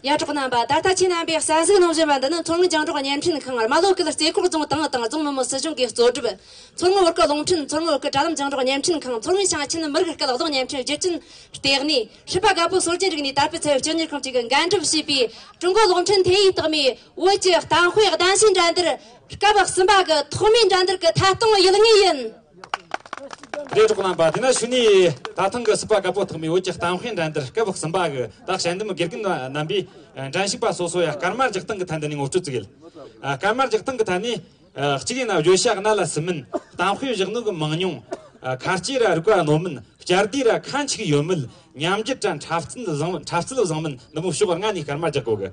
ཡ་གྲོགས་རྣམ་པ། ད་ལྟ་ཁྱེད་རྣམ་པས་གསར་གཟིགས་གནང་བཞིན་པ་འདི་ནི་མཚོ་སྔོན་རྒྱང་སྒྲོག་བརྙན་འཕྲིན་ཁང་རྨ་ལྷོ་ཁུལ་རྩེ་ཁོག་རྫོང་ཏང་དང་རྫོང་མི་དམངས་སྲིད་གཞུང་གིས་གཙོ་སྒྲུབ། མཚོ་སྔོན་བོད་སྐད་རླུང་འཕྲིན་མཚོ་སྔོན་བོད་སྐད་དྲ་ལམ་རྒྱང་སྒྲོག་བརྙན་འཕྲིན་ཁང་མཚོ་སྔོན་ཞིང་ཆེན་མི་རིགས་སྐད་གདོང་བརྙན་འཕྲིན་རྒྱུ་རྐྱེན་ལྟེ་གནས། ཧྲིལ་པ་དགའ་པོའི་སྲོལ་རྒྱུན་རིག་གནས་དར་སྤེལ་ཚད་ཡོད་སྤྱི་གཉེར་ཁང་བཅས་ཀྱིས་འགན་སྒྲུབ་བྱས་པའི་ཀྲུང་གོའི་གློག་འཕྲིན་ཐིན་ཡིག་རྟགས་མའི་བོད་ཀྱི་གཏམ་དཔེ་གདམ་གསེས་འགྲན་བསྡུར་སྐབས་གསུམ་པ་གི་ཐོག་མའི་འགྲན་བསྡུར་གྱི་ཐད་གཏོང་ཡུལ་དངོས་ཡིན། འབྲས་གྲོགས་རྣམ་པ་དེ་ན་ཞུ་ནི། ད་ཐེངས་ཀྱི་སྲིད་པ་དགའ་པོ་ཐོག་མའི་བོད་ཀྱི་གཏམ་ཧེ་འགྲན་འདིར་སྐབས་གསུམ་པ་གི་དག་བྱ་འདེམས་དགེ་རྒན་རྣམ་པས་འགྲན་ཞུགས་པ་སོ་སོ་ཡ་སྐར་མར་རྒྱག་སྟངས་ཀྱི་ཐད་འདི་ནས་ངོ་སྤྲོད་བརྩི་གལ། སྐར་མར་རྒྱག་སྟངས་ཀྱི་ཐད་ནས། གཅིག་ཡིན་ན་བརྗོད་བྱ་གནད་ལ་ཟིན་མིན། གཏམ་ཧེ་བཞག་ནུས་ཀྱི་མང་ཉུང། ཁ་སྐྱེས་ར་རིག་པ་རྣོ་མིན། སྐྱར་ཟློས་ར་ཁ་འཁྱུག་ཡོད་མིན། ཉམས་འགྱུར་གྲ་འཁྲབ་རྩིས་བཟང་མིན། འཁྲབ་རྩིས་བཟང་མིན་ནི་མོ་ཞོགས་ལྔ་ནས་སྐར་མར་རྒྱག་དགོས་གལ།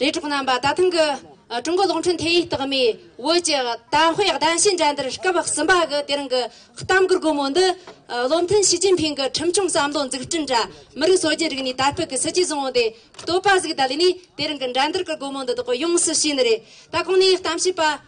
ལས་གྲོགས་རྣམ་པ་ད་ཐེངས་ཀྱི་ཀྲུང་གོ་གློག་འཕྲིན་ཐེ་ཡིག་རྟགས་མའི་བོད་ཀྱི་དར་སྤེལ་གདན་ཞུའི་འགྲན་བསྡུར་སྐབས་གསུམ་པ་གི་དེ་རིང་གི་གཏམ་གུར་སྒོ་མོ་འདི་བློ་མཐུན་ཞི་ཅིན་ཕིང་གི་ཁྲིམས་སྐྱོང་བསམ་བློ་འཛུགས་སྐྲུན་དྲ་མི་རིགས་སྲོལ་རྒྱུན་རིག་གནས་དར་སྤེལ་གྱི་སྲིད་ཇུས་བཟང་བོ་དེ་བཏོད་པ་གཟིགས་ད་ལོ་ནས་དེ་རིང་གི་འགྲན་བསྡུར་གྱི་སྒོ་མོ་འདི་དག་ཡོངས་སུ་ཕྱེས་ནི་རེད་ད་གོང་ནས་གཏམ་བཤད་པ་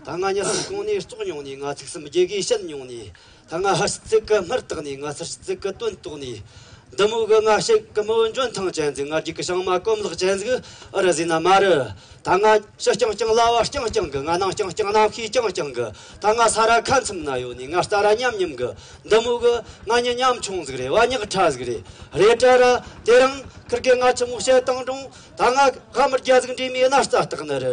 ད་སྔ་ཉི་ཧོང་གོང་ནས་བཙོག་མྱོང་ནས་ང་ཚིག་གསུམ་རྒྱལ་དགོས་བཤད་མྱོང་ནས་ད་སྔ་ཧར་བརྩེགས་ཀྱི་སྨུར་བཏགས་ནས་ང་ཚར་བརྩེགས་ཀྱི་དོན་རྟོགས་ནས། འདི་མོ་གི་སྔ་ཕྱི་གི་མོ་འཇོན་ཐང་ཅན་ཟིག་སྔ་རྒྱུག་གི་བྱང་མ་གོམ་ལག་ཅན་ཟིག་ཨི་རི་ཟི་ན་མ་རི། ད་སྔ་ཕྱི་རྐྱང་རྐྱང་གླ་བ་རྐྱང་རྐྱང་གི་ང་ནང་རྐྱང་རྐྱང་ནམ་མཁའི་རྐྱང་རྐྱང་གི་ད་སྔ་ས་ར་ཁ་མཚམས་ན་ཡོད་ནས་ང་རྟ་ར་མཉམ་མཉམ་གི་འདི་མོ་གི་ང་མྱི་ཉམ་ཆུང་ཟིག་རེད་བ་ཉག་ཕྲ་ཟིག་རེད་རེད་ཏྲ་ར་དེ་རིང་ཁིར་གི་ང་ཆུ་མོ་བཤད་སྟངས་དྲུང་ད་སྔ་ཧ་མི་རྒྱ་ཟིག་འདྲེས་མའི་གནའ་རྟ་བཏགས་ནི་རི་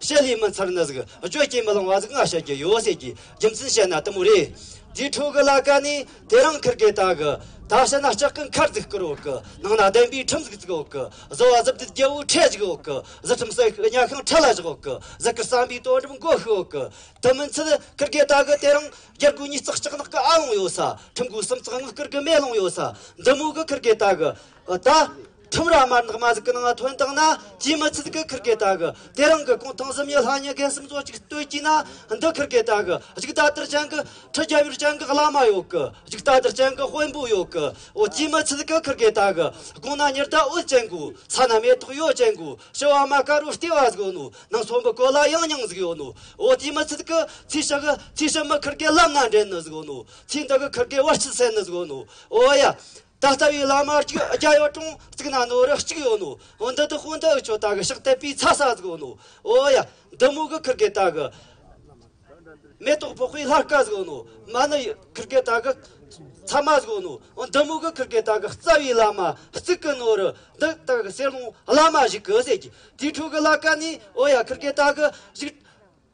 བཤད་ལས་མི་ཚར་ནི་གཟུགས་སྤྱོད་སྐྱེ་མི་ལང་བ་གཟུགས་མངའ་བྱ་རྒྱུ་ཡོད་ཟེར་གྱི་རྒྱུ་མཚན་བཤད་ན་ལྟུང་བ་རེད། དེའི་འཕྲོ་གི་ལ་ཀ་ནི་དེ་རང་འཁུར་དགོས་དག་གི། ད་བཤད་ན་ལྕགས་ཀྱི་མཁར་རྫིག་བསྐོར་འོག་གི་ནང་ན་གདན་པའི་ཁྲིམས་གཟུགས་བརྩིགས་འོག་གི་བཟོ་བ་གཟི་བརྗིད་རྒྱལ་པོའི་ཁྲལ་བཞག་འོག་གི་གཟི་ཁྲིམས་གསོལ་ཤུགས་གཉའ་ཤིང་ཁྲལ་ལ་བཞག་འོག་གི་གཟི་བསྐུར་བསམ་པའི་དོན་གྲུབ་མགོ་ཤུགས་འོག་གི་དུ་མི་འཚལ་འཁུར་དགོས་དག་གི་དེ་རང་རྒྱལ་སྒོའི་ཉིས་བརྩེགས་ལྕགས་ནག་གི་ཨ་ལོང་ཡོད་ས་ཁྲིམས་སྒོའི་སུམ་བརྩེགས་དངུལ་བསྐུར་གྱི་མེ་ལོང་ཡོད་ས་འདི་མོ་གི་འཁུར་དགོས་དག་གི། ད། ཁྲིམས་ར་དམར་ནག་མ་ཟིག་གི་ནང་ཐོན་དང་ན་ཅིའི་མི་ཚིལ་གི་ཁིར་གེ་ད་གི་དེ་རང་གི་ཀོང་ཐང་གཟིམ་ཡི་ལྷ་ཉི་གེ་སིམ་ཙོ་ཅིག་སྟོད་ཀྱི་ན་འདི་ཁིར་གེ་ད་གི་གཞུག་ད་དར་ཅན་གི་ཁྲི་རྒྱལ་བོའི་ཅན་གི་བླ་མ་ཡོད་གི་གཞུག་ད་དར་ཅན་གི་དཔོན་པོ་ཡོད་གི་འོ་ཅིའི་མི་ཚིལ་གི་ཁིར་གེ་ད་གི་ཀོང་ན་ཉེར་ད་འོད་ཅན་གོ་ས་ན་མེ་ཏོག་ཡོད་ཅན་གོ་ཞི་བ་མ་ཀ་རུ་ལྟེ་བ་ཟིག་ཡོད་ནོ་ནང་ཚོམ་བུ་གོ་ལ་ཡང་ཉང་ཟིག་ཡོད་ནོ་འོ་ཅིའི་མི་ཚིལ་གི་ཚིས་ཞག་ཚིས་ཞིབ་མི་ཁིར་གེ་བླ་མ་འདྲེན་ནི་ཟིག་ཡོད་ནོ་ཚིས་འདི་གི་ཁིར་གེ་བ་སྐྱིལ་སེན་ནི་ཟིག་ཡོད་ནོ་འོ་ཡ། ད་ལྟ་བའི་བླ་མ་གཅིག་རྒྱལ་ཡོད་གྲོང་བརྩིགས་ན་ནོར་རེ་གཅིག་ཡོད་ནོ། འདི་དུ་དཔོན་དག་ཁྱོད་ལྟ་གི་ཕྱག་དད་པའི་ཚ་ས་ཟིག་ཡོད་ནོ། འོ་ཡ། འདི་མོ་གི་ཁིར་གེ་ལྟ་གི། མེ་ཏོག་ཕོག་པའི་ལྷར་སྐལ་ཟིག་ཡོད་ནོ། མ་ནི་ཁིར་གེ་ལྟ་གི། ཚ་མ་ཟིག་ཡོད་ནོ། འདི་མོ་གི་ཁིར་གེ་ལྟ་གི་རྩ་བའི་བླ་མ་གཅིག་གི་ནོར་རེ་འདི་ལྟ་གི་སེར་ལོང་བླ་མ་ཞིག་གི་ཟེར་གྱི། དེའི་འཕྲོ་གི་བླ་སྐལ་ནི་འོ་ཡ་ཁིར་གེ་ལྟ་གི་ཞིག།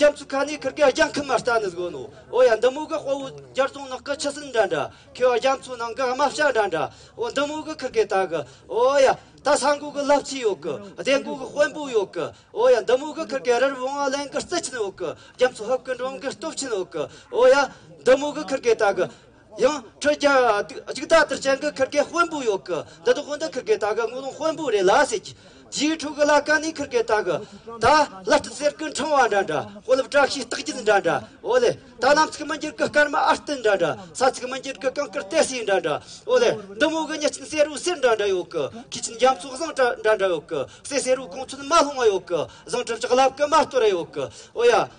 སྐྱབས་ཚུལ་ཁ་ནས་ཁུར་ཀའི་རྒྱ་ཁུ་མ་རྟ་ནི་གཟོ་ནོ། འོ་ཡ་འདི་མོ་གི་དཔའ་བོ་རྒྱར་རྫོང་ནགས་ཀི་ཆུ་སྲིན་འདྲ་འདྲ། ཁེ་བ་རྒྱ་མཚོ་ནང་གི་རྨ་བྱ་འདྲ་འདྲ། འོ་འདི་མོ་གི་ཁུར་ཀའི་རྟ་གི། འོ་ཡ། ད་ས་མགོ་གི་རླབས་ཆེན་ཡོད་གི། སྡེ་མགོ་གི་དཔོན་པོ་ཡོད་གི། འོ་ཡ་འདི་མོ་གི་ཁུར་ཀའི་རི་རུ་བོང་བ་གླིང་གི་རྩི་ཆེན་ཡོད་གི། རྒྱ་མཚོ་ཧུབ་ཀི་འབྲོམ་གི་སྟོབས་ཆེན་ཡོད་གི། འོ་ཡ། འདི་མོ་གི་ཁུར་ཀའི་རྟ་གི། ཡང་ཁྲི་བརྒྱ་གཅིག་ད་ལྟར་བྱེད་འགུལ་འཁུར་མཁན་དཔོན་པོ་ཡོད་གི་འདི་དག་དཔོན་དུ་འཁུར་མཁན་ད་གི་དངུལ་ལོང་དཔོན་པོ་རེད་ལ་ཟེར་གི། རྗེའི་ཁྲོ་གུ་ལ་ཀ་ནས་འཁུར་མཁན་ད་གི། ད་བླ་སྤྲུལ་གསེར་སྐུ་འཕྲེང་བ་འདྲ་འདྲ་དཔོན་སློབ་བཀྲ་ཤིས་རྟགས་བརྒྱུད་འདྲ་འདྲ་ཨོ་ལེ། ད་གནམ་ཚིག་མི་འགྱུར་གི་སྐར་མ་ཨར་ཏི་འདྲ་འདྲ་ས་ཚིག་མི་འགྱུར་གི་ཀང་ཀར་ཏའི་སི་འདྲ་འདྲ་ཨོ་ལེ། འདི་མོ་གི་གཉིས་ཅན་གསེར་རུའི་གསེར་འདྲ་འདྲ་ཡོད་གི་ཁྱི་ཆེན་རྒྱ་མཚོ་བཟང་གྲ་འདྲ་འདྲ་ཡོད་གི་གསེར་གསེར་རུའི་གོང་ཚོད་མ་ལྷུང་བ་ཡོད་གི་བཟང་གྲ་འཇག་ལབ་གི་མ་སྟོད་ར་ཡོད་གི་ཨོ་ཡ།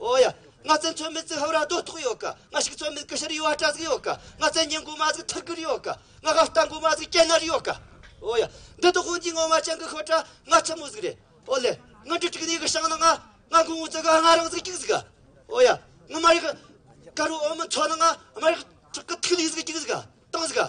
ཨོ་ཡ། ང་བཙན་ཚོད་མེད་ཙི་ཧབ་ར་རྡོ་ཐོག་ཡོད་ཀ། ང་ཤིག་ཚོད་མེད་ཀི་ཤར་ཡུ་བ་ཏྲ་ཟིག་ཡོད་ཀ། ང་བཙན་ཉན་དགུ་མ་ཟིག་ཐུར་གིར་ཡོད་ཀ། ང་ཧ་བཏང་དགུ་མ་ཟིག་ཀྱེ་ནར་ཡོད་ཀ། ཨོ་ཡ། འདི་དོ་ཧོན་གྱི་ངོ་མ་ཅང་གི་ཤོ་ཏྲ། ང་ཆི་མོ་ཟིག་རེད། ཨོ་ལེ། ང་འདྲི་ཏྲིག་ནི་གི་ཤང་ནི་ང། ང་གུང་ངུ་ཙི་ག་ང་རང་ཟིག་ཀྱིག་ཟིག་ག། ཨོ་ཡ། ང་མ་རིག། ཀ་རུ་ཨོ་མི་ཚོ་ནི་ང། མ་རིག། ཏྲག་གི་ཐིག་ལི་ཟིག་ཀྱིག་ཟིག་ག། ཏང་ཟིག་ག།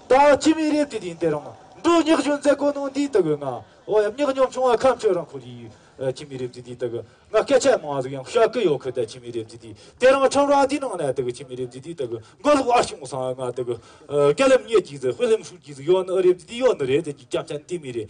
ད་ཅི་མི་རེད་དེ་དེ་འདི་རང་འགྲོ་སྙག་གཞུང་མཛད་སྒོ་གནང་དུས་ལྟ་གི་ང་འོ་ཡམ་སྙག་ཉོམ་བྱུང་བ་ཁམས་ཆོས་རང་ཁོ་རེ་ཡིས་ཅི་མི་རེད་དེ་དེ་ལྟ་གི་ང་སྐད་ཆ་མང་བ་ཟིག་ཡང་ཤག་གི་ཡོག་ཁུ་ད་ཅི་མི་རེད་དེ་དེ་དེ་རང་ཁྲོམ་ར་འདི་ནང་ན་ལྟ་གི་ཅི་མི་རེད་དེ་དེ་ལྟ་གི་མགོ་ལོག་ཨ་ཞུང་སང་ང་ལྟ་གི་སྐད་ལམ་ཉེས་ཀྱིས་ཟིག་དཔེ་ལམ་ཤུགས་ཀྱིས་ཟིག་ཡོག་ནི་ཨ་རེད་དེ་དེ་ཡོག་ནི་རེད་ཟེར་གྱི་སྐྱབས་ཆ་འདི་མི་རེད་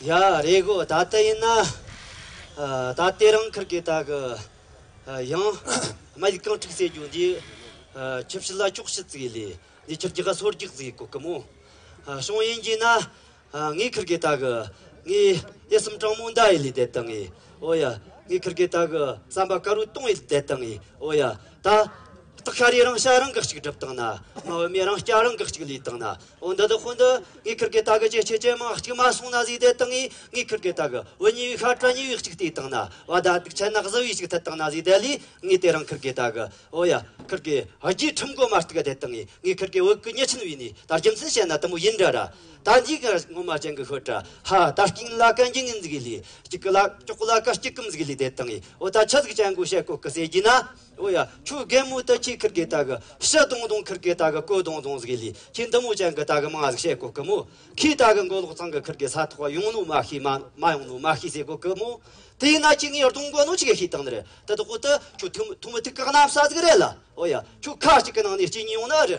ཡ་རེད་གོ་ད་ལྟ་ཡིན་ན་ད་ལྟའི་རང་འཁུར་གི་དག་གི་ཡང་མ་ཡིག་གང་འཁྲུག་ཟེར་རྒྱུ་འདི་ཁྱི་ཕྱི་ལ་ཅོག་ཕྱི་བརྩིགས་ལས་འདི་ཁྱི་རྒྱུ་ག་སོར་རྒྱག་ཟེར་གོ་གི་མོ་ཤོང་ཡིན་གྱིས་ན་ངའི་འཁུར་གི་དག་གི་ངའི་ཨེ་སུམ་སྤྲང་མོ་འདའ་ཡི་ལས་དེ་ལྟ་ངའི་ཨོ་ཡ་ངའི་འཁུར་གི་དག་གི་བསམ་པ་དཀར་བོའི་སྟོང་ཡི་ལས་དེ་ལྟ་ངའི་ཨོ་ཡ། ད་སྟག་ཤ་རའི་རང་ཤ་རང་འགག་ཅིག་སྒྲུབ་བཏང་ན། མ་བུ་མོའི་རང་སྐྱ་རང་འགག་ཅིག་ལུས་བཏང་ན། འོ་འདི་དང་ཧོ་འདི། ངའི་ཁུར་གི་སྟག་ཇེ་ཆེ་ཇེ་མང་གཅིག་མ་སོང་ན་གཟིགས་དེ་དང་ངའི་ངའི་ཁུར་གི་སྟག། བུ་ཉེ་བའི་ཤ་བཀྲ་ཉེ་བའི་གཅིག་དེ་བཏང་ན། བ་ད་སྡུག་ཆ་ནག་ཟི་བའི་གཅིག་ཐད་བཏང་ན་གཟིགས་དེ་ལས་ངའི་དེ་རང་ཁུར་གི་སྟག། འོ་ཡ། ཁུར་གི། རྒྱའི་ཁྲིམས་སྒོ་མ་གཏུགས་དེ་དང་ངའི་ཁུར་གི་བུ་གུ་ཉེ་ཆུན་བས་ནས་ད་རྒྱུ་མཚན་བཤད་ན་དུ་མོ་ཡིན་འདྲ་ར། ད་འཇིགས་གར་སྔོན་མ་ཅན་གྱི་ཤོ་ཏྲ་ཧ་ད་སྐྱིང་གླ་ཀ་འཇིགས་ངན་གཟིགས་ལི་སྐྱིག་གི་ལ་ཀྱོག་གླ་ཀ་སྐྱིག་གམ་གཟིགས་ལི་དེ་དང་ཡིས་འོ་ད་ཆ་གཟིགས་ཅན་གོ་ཤེ་གོ་གི་སེ་གྱིས་ན་འོ་ཡ་ཁྱོད་རྒན་མོ་ད་ཁྱི་ཁིར་གི་ད་གི་ཤི་དུང་དུང་ཁིར་གི་ད་གི་ཀོ་དུང་དུང་གཟིགས་ལི་ཁྱི་འདི་མོ་ཅན་གི་ད་གི་མང་གཟིགས་ཤེ་གོ་གི་མོ་ཁྱིས་ད་གི་མགོ་ལོག་ཚང་གི་ཁིར་གི་ས་ཐོག་ག་ཡོང་ནོ་མ་ཤི་མ་མ་ཡོང་ནོ་མ་ཤི་སེ་གོ་གི་མོ་དེ་ཡིན་ན་ཁྱི་ངའི་རྡུང་གོ་ནོ་ཅི་གི་ཤི་དང་ནི་རི་དི་དི་ཁོ་ཏི་ཁྱོད་ཐུ་མི་ཐུ་མི་ཐུ་ཁག་གནམ་ས་ཟིག་རེད་ལ་འོ་ཡ་ཁྱོད་ཁ་ཅིག་གི་ནང་ནས་སྐྱིད་ཉིས་ཡོང་ནི་ཨ་རི།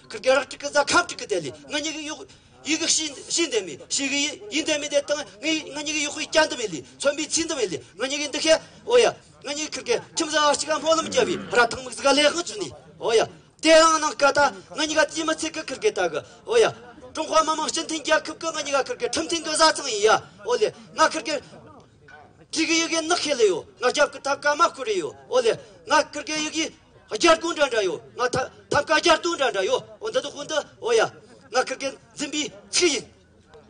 ཁུར་ཀེ་རག་ཀྲི་ཀི་རྫ་ཁབ་ཀྲི་ཀི་དེ་ལི་ང་ཉི་གི་གཡུག་ཡི་གི་ཤི་ཤི་འདེ་མི་ཤི་གི་ཡི་ཡི་འདེ་མི་དེ་ཏང་ངི་ང་ཉི་གི་གཡུག་ཡི་ཀྱ་འདི་བི་ལི་ཚོན་པི་ཚི་འདི་བི་ལི་ང་ཉི་གི་འདི་ཁེ་ཨོ་ཡ་ང་ཉི་གི་ཁུར་ཀེ་ཁྲིམས་བཟའ་བ་ཅི་ག་སྨོ་ལམ་རྒྱ་བི་ར་ཐང་མིག་ཟི་ག་ལེ་ཧང་ཆུ་ནི་ཨོ་ཡ་དེ་རང་ནང་ག་ད་ང་ཉི་ག་ཙི་མི་ཚི་གི་ཁུར་ཀེ་ད་གི་ཨོ་ཡ་ཀྲུང་ཧྭ་མི་དམངས་སྤྱི་མཐུན་རྒྱལ་ཁུབ་གི་ང་ཉི་ག་ཁུར་ཀེ་ཁྲིམས་མཐུན་གི་བཟའ་ཚང་ཡི་ཡ་ཨོ་ལེ་ང་ཁུར་ཀེ་ཀྲི་གི་ཡི་གི་ནག་ཁེ་ལི་ཡོ་ང་རྒྱབ་གི་ཐབ་ག་མ་ཁུ་རི་ཡོ་ཨོ་ལེ་ང་ཀུར་ཀེ་ཡི་གི་རྒྱལ་སྐུ་འདྲ་འདྲ་ཡོད་ང་ཐབ་ཐབ་ཀ་རྒྱལ་སྟུ་འདྲ་འདྲ་ཡོད་འོ་འདི་འདི་དགུ་འདི་འོ་ཡ། ང་ཁིར་ཀེར་འཛིན་པའི་ཚིག་ཡིན།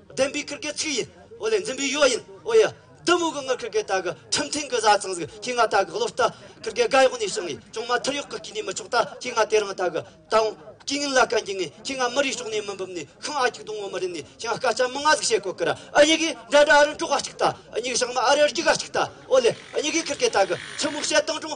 བདེན་པའི་ཁིར་ཀེར་ཚིག་ཡིན་འོ་ལེ་འཛིན་པའི་ཡོ་ཡིན་འོ་ཡ། འདི་མོ་གི་ངི་ཁིར་ཀེར་ད་གི་ཁྲིམས་མཐུན་གི་བཟའ་ཚང་ཟིག་ཁྱེད་ང་ད་གི་བློ་ལྟ། ཁིར་ཀེར་དགའ་ཡོག་ནས་བྱུང་ངས་ཅུང་མ་ཐུར་ཡོག་གི་སྐྱིད་ནས་མི་ཆོག་ད་ཁྱེད་ང་དེ་རང་ད་གི་དང། སྐྱིད་ངན་ལ་བཀའ་འགྱིན་ངས་ཁྱེད་ང་མི་རིགས་ཕྱོགས་ནས་མི་འབུམ་ནས་ཤིང་ཨ་གྱིག་དུང་ངོ་མི་རིན་ནས་ཤིང་ཨ་སྐ་ཅག་མི་ང་ཟིག་བྱེད་གོ་ཀིར་ཨ་གཉིས་གིས་འདྲ་འདྲ་ཨ་རི་འབྲོག་ཨ་གཅིག་ད་ཨ་གཉིས་གིས་ཤང་མ་ཨ་རི་རྒྱུག་ཨ་གཅིག་ད་འོ་ལེ་ཨ་གཉིས་གིས་ཁིར་ཀེར་ད་གི་ཆུ་མོ་བྱེད་སྟངས་ཅུང་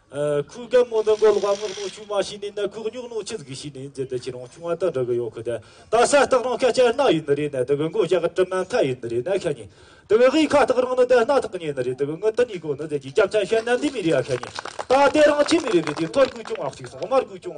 ཁུག་རྒན་མོ་འདི་མགོ་ལོག་པ་སྔགས་ནོར་ཆུང་མ་ཞིག་ནས་ནད་ཁུག་སྙུག་ནོར་ཆེ་ཟིག་ཞིག་ནས་འཛེར་དེ་ཁྱེད་རང་ཆུང་མ་དག་འདྲ་གི་ཡོད་ཁུ་དེ་ད་གསལ་སྟག་རང་ཁ་སྐྱ་རྣག་ཡིན་ནི་རེད་ནད་དེ་གི་མགོ་ཞག་གི་གྲིབ་མ་མཐའ་ཡིན་ནི་རེད་ནད་ཁ་ཉིན་དེ་གི་གཡིས་ཁ་སྟག་རང་ནི་དེ་སྣ་ཐག་ཉིན་ནི་རེད་དེ་གི་ངུ་དི་གཉིས་གོ་ནི་དེ་གྱིས་སྐྱབས་ཆ་ཤད་ནད་འདི་མི་རིགས་ཡ་ཁ་ཉིན་ད་དེ་རང་ཁྱིམ་མི་རིགས་པའི་དེ་ཐོར་གུག་ཅུང་ཨག་ཅིག་སོང་དམར་གུག་ཅུང་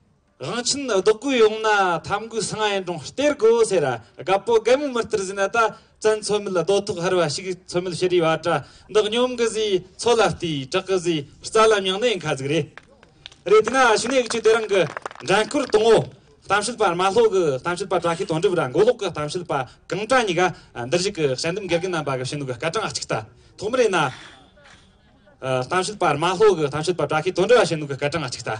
རང་ཁྱིམ་ནི་བདག་གོས་ཡོང་ན་ཐམ་གོས་སང་ཡན་གྲོང་སྟེར་གོ་ཟེར། དགའ་པོ་རྒན་མོ་མི་ལྟར་བཟས་ན་ད་བཙན་མཚོ་མོད་རྡོ་ཐོག་ཧར་བ་ཞིག་མཚོ་མོད་ཤི་རིའི་བ་ཏྲ་འདི་སྙོམས་གི་བཟས་མཚོ་ལ་ལྟོས་བྲག་གི་བཟས་རྩ་ལ་མྱང་ནའི་མཁའ་ཟིག་རེད། རེད་དེ་ན་ཕྱི་ནས་ཁྱོད་དེ་རང་གི་འགྲན་བསྐུར་གཏོང་ངོ། གཏམ་བཤད་པ་རྨ་ལྷོ་གི་གཏམ་བཤད་པ་བཀྲ་ཤིས་དོན་འགྲུབ་ར་མགོ་ལོག་གི་གཏམ་བཤད་པ་གངས་བཀྲ་གཉིས་ཀ་འདིར་གཞུག་གི་བཤད་འདུམ་དགེ་རྒན་རྣམ་པ་གི་བཤད་འདུམ་གི་སྐར་གྲངས་གཅིག་ལྟ་ཐོག་མི་རེད་ན། གཏམ་བཤད་པ་རྨ་ལྷོ་གི་གཏམ་བཤད་པ་བཀྲ་ཤིས་དོན་འགྲུབ་ར་བཤད་འདུམ་གི་སྐར་གྲངས་གཅིག་ལྟ།